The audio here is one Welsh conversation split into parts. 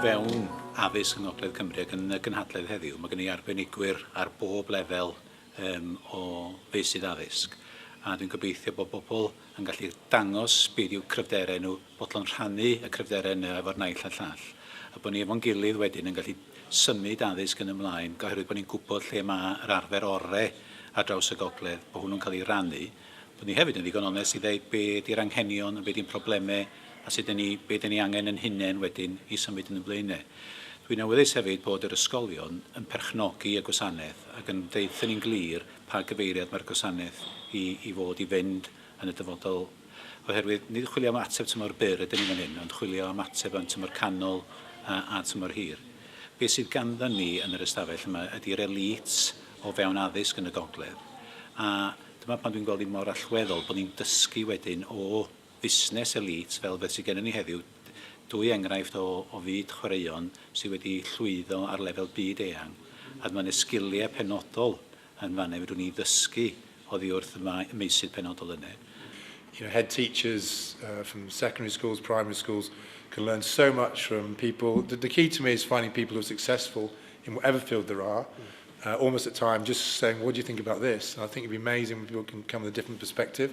fewn addysg yng Ngogledd Cymru ac yn y gynhadledd heddiw, mae gen i arbenigwyr ar bob lefel um, o feysydd addysg. A dwi'n gobeithio bod bobl yn gallu dangos beth yw cryfderau nhw, bodlon rhannu y cryfderau yna efo'r naill a'r llall, a bod ni efo'n gilydd wedyn yn gallu symud addysg yn ymlaen, oherwydd bod ni'n gwybod lle mae yr arfer orau ar draws y gogledd, bod hwnnw'n cael ei rannu, bod ni hefyd yn ddigon onest i ddeud be ydy'r anghenion, be ydy'n problemau, a sut dan ni, be dan ni angen yn hunain wedyn i symud yn y blaenau. Dwi'n awyddus hefyd bod yr ysgolion yn perchnogi y gwasanaeth ac yn deutha ni'n glir, pa gyfeiriad mae'r gwasanaeth i i fod i fynd yn y dyfodol oherwydd nid chwilio am ateb tymor byr ydyn ni fan hyn ond chwilio am ateb am tymor canol a, a tymor hir. Be sydd ganddon ni yn yr ystafell yma ydy'r elît o fewn addysg yn y gogledd a dyma pan dwi'n gweld hi mor allweddol bod ni'n dysgu wedyn o fusnes elît fel beth sydd gennym ni heddiw, dwy enghraifft o o fyd chwaraeon sydd wedi llwyddo ar lefel byd eang, a mae 'na sgiliau penodol yn fan 'na fedrwn ni ddysgu oddi wrth y mae- y meysydd penodol yna. You know, head teachers uh from secondary schools, primary schools can learn so much from people. The, the key to me is finding people who are successful in whatever field there are. Uh, almost at time, just saying, what do you think about this? And I think it'd be amazing when people can come with a different perspective.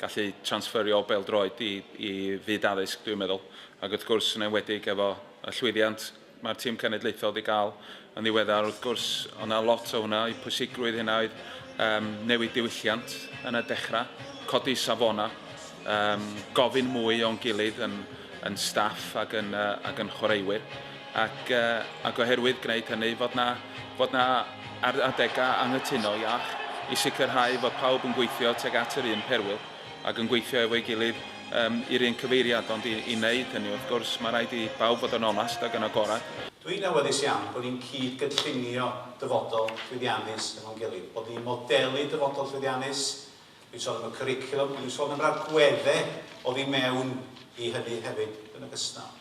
gallu transferio bêl-droed i i fyd addysg dwi'n meddwl, ac wrth gwrs yn enwedig efo y llwyddiant mae'r tîm cenedlaethol 'di gael yn ddiweddar wrth gwrs o' 'na lot o hwnna, eu pwysigrwydd hynna oedd yym newid diwylliant yn y dechrau, codi safona, yym gofyn mwy o'n gilydd yn yn staff ac yn yy ac yn chwaraewyr. ac ac oherwydd gwneud hynny fod na fod na ar adegau anghytuno iach i sicrhau fod pawb yn gweithio tuag at yr un perwyl ac yn gweithio efo'i gilydd um, i'r un cyfeiriad ond i, i wneud hynny wrth gwrs mae rhaid i bawb fod yn onast ac yn agorad. Dwi'n awyddus iawn bod ni'n cyd gynllunio dyfodol llwyddiannus efo'n gilydd, bod ni'n modelu dyfodol llwyddiannus, dwi'n sôn am y cwricwlwm, dwi'n sôn am ragweddau oddi mewn i hynny hefyd yn ogystal.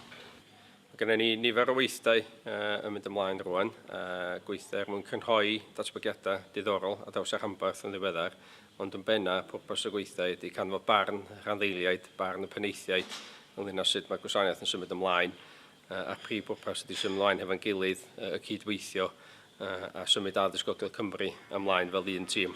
Mae gennym ni nifer o weithdai yn mynd ymlaen rŵan, a gweithdai er mwyn crynhoi datblygiadau diddorol ar draws y rhanbarth yn ddiweddar, ond yn bennaf, pwrpas y gweithdai ydy canfod barn y rhanddeiliaid, barn y penaethiaid ynglŷn â sut mae'r gwasanaeth yn symud ymlaen, a'r prif bwrpas ydy symud ymlaen hefo'n gilydd, y cyd-weithio, a symud Addysg Gogledd Cymru ymlaen fel un tîm.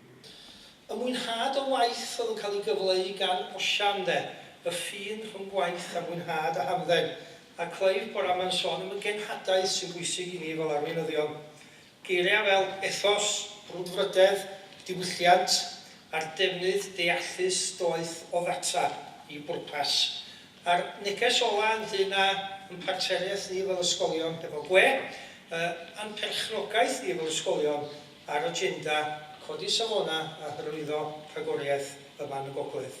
Y mwynhad o waith oedd yn cael ei gyfleu gan Osian 'de, y ffin rhwng gwaith a mwynhad a hamdden. A Clive bore 'ma'n sôn am y genhadaeth sy'n bwysig i ni fel arweinyddion. Geiriau fel ethos, brwdfrydedd, diwylliant, a'r defnydd deallus doeth o ddata i bwrpas. A'r neges ola' ynglŷn â ein partneriaeth ni fel ysgolion hefo gwe, yy a'n perchnogaeth ni fel ysgolion Ar agenda, codi safonau a hyrwyddo rhagoriaeth yma yn y gogledd.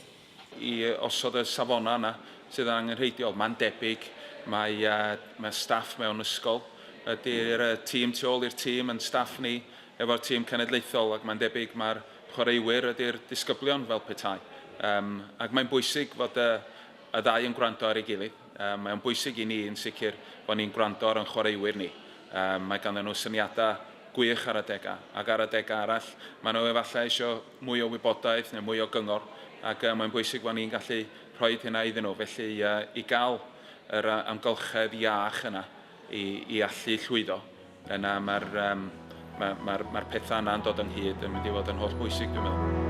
i osod y safonau yna sydd yn angenrheidiol. Mae'n debyg mai mae staff mewn ysgol ydy'r tîm tu ôl i'r tîm, ein staff ni efo'r tîm cenedlaethol ac mae'n debyg mai'r chwaraewyr ydy'r disgyblion fel petai. Ac mae'n bwysig fod y ddau yn gwrando ar ei gilydd. Um, mae o'n bwysig i ni yn sicr bod ni'n gwrando ar o'n chwaraewyr ni. Um, mae ganddyn nhw syniadau gwych ar adegau, ac ar adegau arall, mae nhw efallai eisiau mwy o wybodaeth neu mwy o gyngor, ac uh, mae'n bwysig bod ni'n gallu rhoi hynna iddyn nhw. Felly uh, i gael yr uh, amgylchedd iach yna, i i allu llwyddo. Yna mae'r um, mae'r ma, ma, ma pethau yna'n dod ynghyd yn mynd i fod yn holl bwysig dwi'n meddwl.